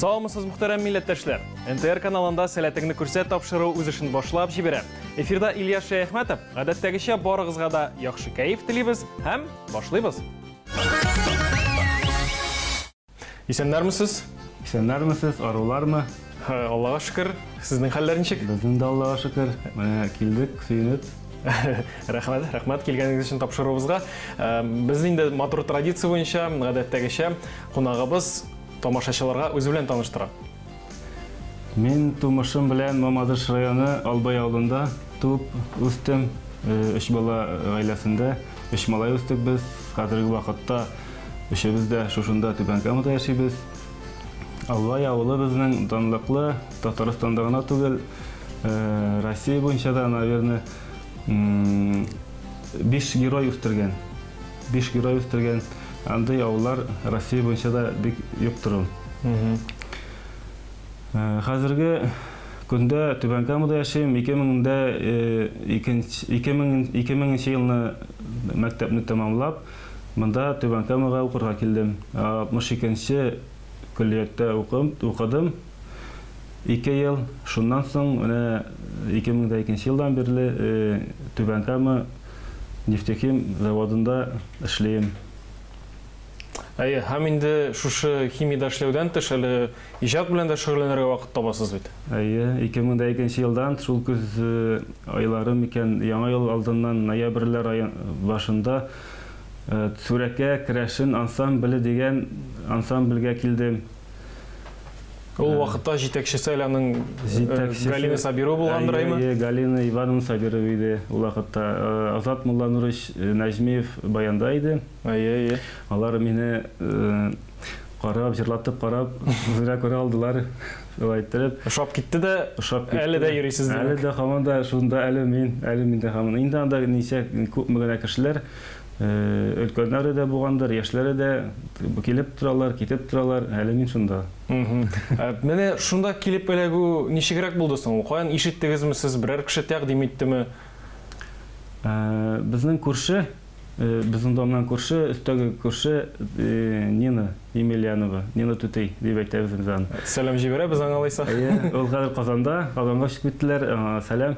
Саламысыз мөхтәрәм милләттәшләр. НТР каналында сәләтеңне күрсәт тапшыру үз эшен башлап җибәрә. Эфирда Илья Шәяхмәтов. Гадәттәгечә барыгызга да яхшы кәеф телибез һәм башлыйбыз. Исәннәрмесез? Исәннәрмесез, арулармы? Аллага шөкер. Сезнең хәлләр ничек? Безнең дә Аллага шөкер. Менә килдек, сөенеп. Рәхмәт, рәхмәт килгәнегез өчен тапшыруыбызга. Без инде матур традиция буенча, гадәттәгечә, кунагыбыз тамашачыларга үзе белән таныштыра. Мин тумышым белән Мамадыш районы Албай авылында туып үстем. Өч бала гаиләсендә, өч малай үстек без. Хәзерге вакытта өчебез дә шушында Түбән Камада яшибез. Албай авылы безнең данлыклы, Татарстанда гына түгел, Россия буенча да, наверное, биш герой үстергән. Биш герой үстергән. Андый авыллар Россия буенча да бик юктыр ул. Хәзерге көндә Түбән Камада яшим. 2002 елны мәктәпне тәмамлап, монда Түбән Камага укырга килдем. 62 нче көллияттә укыдым. Ике ел, шуннан соң менә 2002 елдан бирле Түбән Кама нефтехим заводында эшлим. Әйе, һәм инде шушы химиядә эшләүдән тыш әле иҗат белән дә шөгыльләнергә вакыт табасыз бит? Әйе, 2002 елдан шул көз айлары микән, яңа ел алдыннан ноябрьләр башында Сүрәкә керәшен ансамбле дигән ансамбльгә килдем. Ул э, вакытта җитәкчесе әле аның э, Галина Сабирова булгандыр э, әйме? Галина Ивановна Сабирова иде ул вакытта. Азат Мулланурович Нәҗмиев баянда иде. Әйе, әйе. Алар мине карап, җырлатып карап, үзенә күрә алдылар. Шулай иттереп. Ошап китте дә, ошап китте. Әле дә йөрисез димәк. Әле дә һаман да шунда әле мин, әле мин дә һаман. Инде анда ничә күпме генә кешеләр Өлкәннәре дә булгандыр, яшьләре дә килеп торалар, китеп торалар, әле мин шунда. Менә шунда килеп эләгү ничегрәк булды соң ул? Каян ишеттегезме сез, берәр кеше тәкъдим иттеме? Безнең күрше, безнең домнан күрше, өстәге күрше Нина Емельянова, Нина түти дип әйтәбез без аны. Сәлам җибәрәбез аңа алайса. Ул хәзер Казанда, Казанга күчеп киттеләр, аңа сәлам.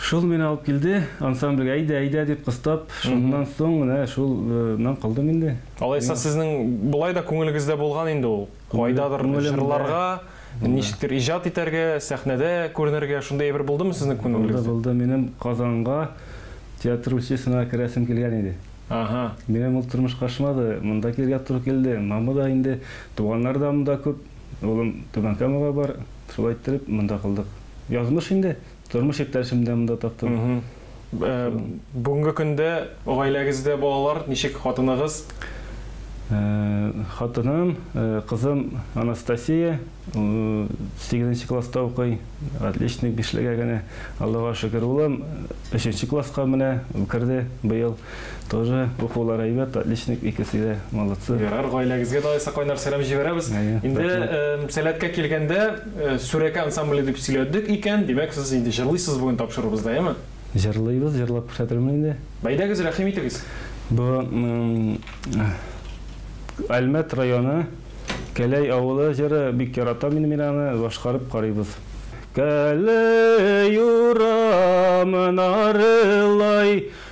Шул мине алып килде, ансамбльгә әйдә, әйдә дип кыстап, шуннан соң менә шул нан калдым инде. Алайса сезнең болай да күңелегездә булган инде ул, кайдадыр җырларга, ничектер иҗат итәргә, сәхнәдә күренергә, шундый әйбер булдымы сезнең күңелегездә? Булды, булды, минем Казанга театр училищесына керәсем килгән иде. Аһа. Минем ул тормыш качмады, монда килергә туры килде, мама да инде, туганнар да монда күп, улым Түбән Камага бар, шулай иттереп монда калдык. Язмыш инде, Тормыш иптәшемне дә монда таптым. Бүгенге көндә гаиләгездә балалар ничек, хатыныгыз? Хатыным, кызым Анастасия, сигезенче класста укый, отличник, бишлегә генә, Аллага шөкер. Улым өченче класска менә керде быел. Тоже укулары әйбәт, отличник икесе дә, молодцы. Ярар, гаиләгезгә дә Айса кайнар сәлам җибәрәбез. Инде сәләткә килгәндә, Сүрәкә ансамбле дип сөйләдек икән, димәк, сез инде җырлыйсыз бүген тапшыруыбызда, яме? Җырлыйбыз, җырлап күрсәтермен инде. Бәйдәгез, рәхим итегез. Бу Әлмәт районы Кәләй авылы җыры, бик яратам инде мин аны, башкарып карыйбыз. Кәләй урамын арылай,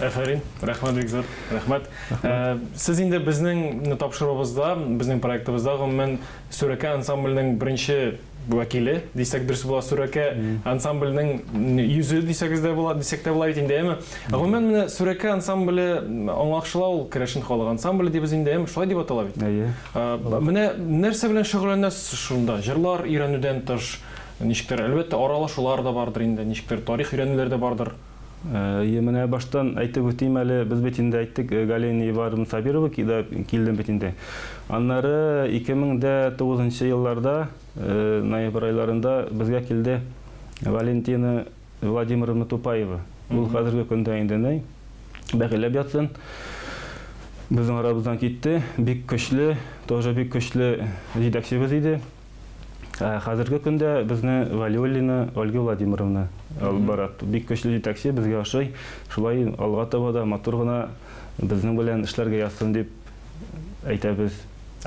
Әфәрин, рәхмәт бик зур, рәхмәт. Э, сез инде безнең тапшыруыбызда, безнең проектыбызда гомумән Сүрәкә ансамбленең беренче вәкиле дисәк дөрес була, Сүрәкә ансамбленең йөзе дисәгез дә була, дисәк тә була бит инде, әме. Гомумән менә Сүрәкә ансамбле аңлакшыла ул керәшен халык ансамбле дибез инде, әме шулай дип атала бит. Әйе. Э, менә нәрсә белән шөгыльләнәсез шунда? Җырлар өйрәнүдән тыш, ничектер, әлбәттә, аралашулар да бардыр инде, ничектер, тарих өйрәнүләр дә бардыр. Әйе, менә баштан әйтеп үтим әле, без бит инде әйттек, э, Галина Ивановна Сабирова кида килдем бит инде. Аннары 2009 елларда, э, ноябрь айларында безгә килде Валентина Владимировна Тупаева. Ул хәзерге көндә инде ни бәгыләп ятсын. Безнең арабыздан китте, бик көчле, тоже бик көчле җитәкчебез иде. Ә хәзерге көндә безне Валиуллина Ольга Владимировна алып бара. Бик көчле җитәкче, безгә ошый. Шулай алга таба да матур гына безнең белән эшләргә язсын дип әйтәбез.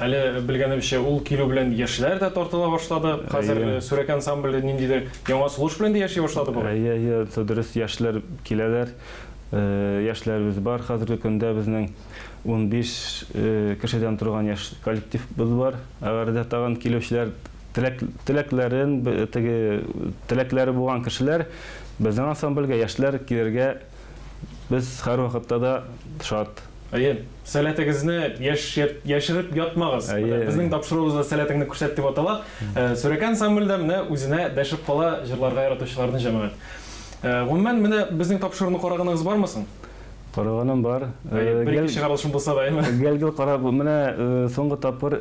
Әле белгәнебезчә, ул килү белән яшьләр дә тартыла башлады. Хәзер Әйе. Сүрәк ансамбле ниндидер яңа сулыш белән дә яши башлады бугай. Әйе, әйе, дөрес, яшьләр киләләр. Э, Яшьләребез бар хәзерге көндә безнең. унбиш кешедән торган яшь коллективыбыз бар. Әгәр дә тагын килүчеләр теләкләрен, теге теләкләре булган кешеләр безнең ансамбльгә, яшьләр килергә без һәрвакытта да шат. Әйе, сәләтегезне яшереп ятмагыз. Безнең тапшыруыбыз да Сәләтеңне күрсәт дип атала. Сүрәкә ансамбле дә менә үзенә дәшеп кала җырларга яратучыларның җәмәгать. Гомумән, менә безнең тапшыруны караганыгыз бармы соң? Караганым бар. Әйе, бер-ике чыгарылышым булса да, әйеме? Гел-гел карап, менә соңгы тапкыр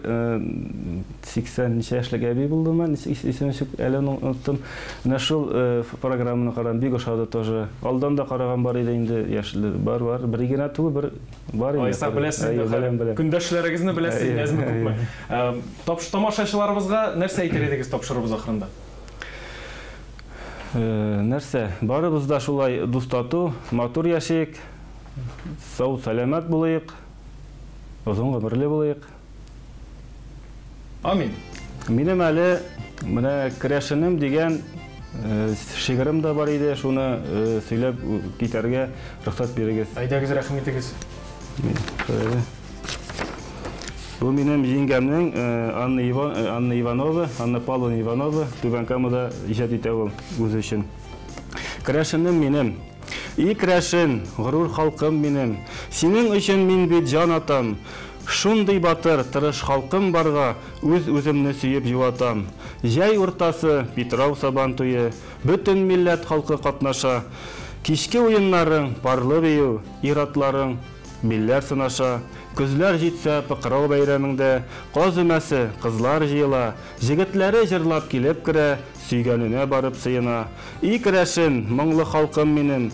80 ничә яшьлек әби булдымы, исеме чүк, әле оныттым. Менә шул программаны карадым, бик ошады тоже. Алдан да караган бар иде инде, яшьле бар, бар. Бер генә түгел, бер бар инде. Айса, беләсез инде, беләм, беләм. Көндәшләрегезне беләсез, әзме күпме. Тамашачыларыбызга нәрсә әйтер идегез тапшыруыбыз ахырында? Нәрсә, барыбыз да шулай дус тату, матур яшик, сау сәламәт булыйк, озын гомерле булыйк. Амин. Минем әле менә керәшенем дигән шигырем дә бар иде, шуны сөйләп китәргә рөхсәт бирегез. Әйдәгез, рәхим итегез. Мин, шулай да. Бу минем җиңгәмнең э, Анна, Иван, э, Анна Иванова, Анна Павловна Иванова, Түбән Камада иҗат итә ул үзе өчен. Крәшенем минем, и крәшен, горур халкым минем, синең өчен мин бит җан атам. Шундый батыр, тырыш халкым барга, үз үземне сөеп юатам. Җәй уртасы, Питрау сабан туе, бөтен милләт халкы катнаша. Кичке уеннарың, парлы бию, иратларың, Билләр сынаша, көзләр җитсә, пыкырау бәйрәмеңдә, каз өмәсе, кызлар җыела, җегетләре җырлап килеп керә, сөйгәненә барып сыена. И керәшен, моңлы халкым минем!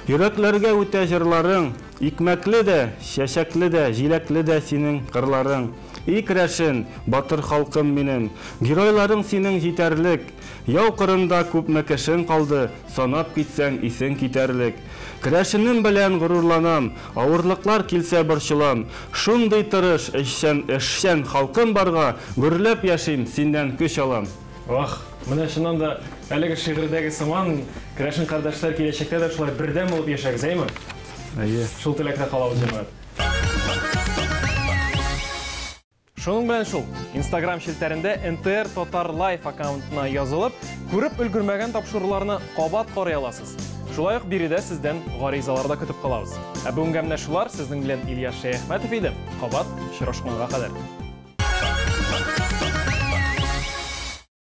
Йөрәкләргә үтә җырларың, Икмәкле дә, чәчәкле дә, җиләкле дә синең кырларың. И керәшен, батыр халкым минем! Геройларың синең җитәрлек. Яу кырында күпме кешең калды, санап китсәң, исең китәрлек. Керәшенем белән горурланам, авырлыклар килсә борчылам. Шундый тырыш, эшчән, эшчән халкым барга, гөрләп яшим, синнән көч алам. Вах! Менә чыннан да, әлеге шигырьдәге сыман, керәшен кардәшләр киләчәктә дә шулай бердәм булып яшәгез, әйме? Әйе. Шул теләктә калабыз, җәмәгать! Шуның белән шул, Instagram челтәрендә NTR Татар Life аккаунтына язылып, күреп өлгермәгән тапшыруларны кабат карый аласыз. Шулай ук биредә сездән гаризалар да көтеп калабыз. Ә бүгенгә менә шулар, сезнең белән Ильяс Шәяхмәтов иде. Кабат очрашканга кадәр.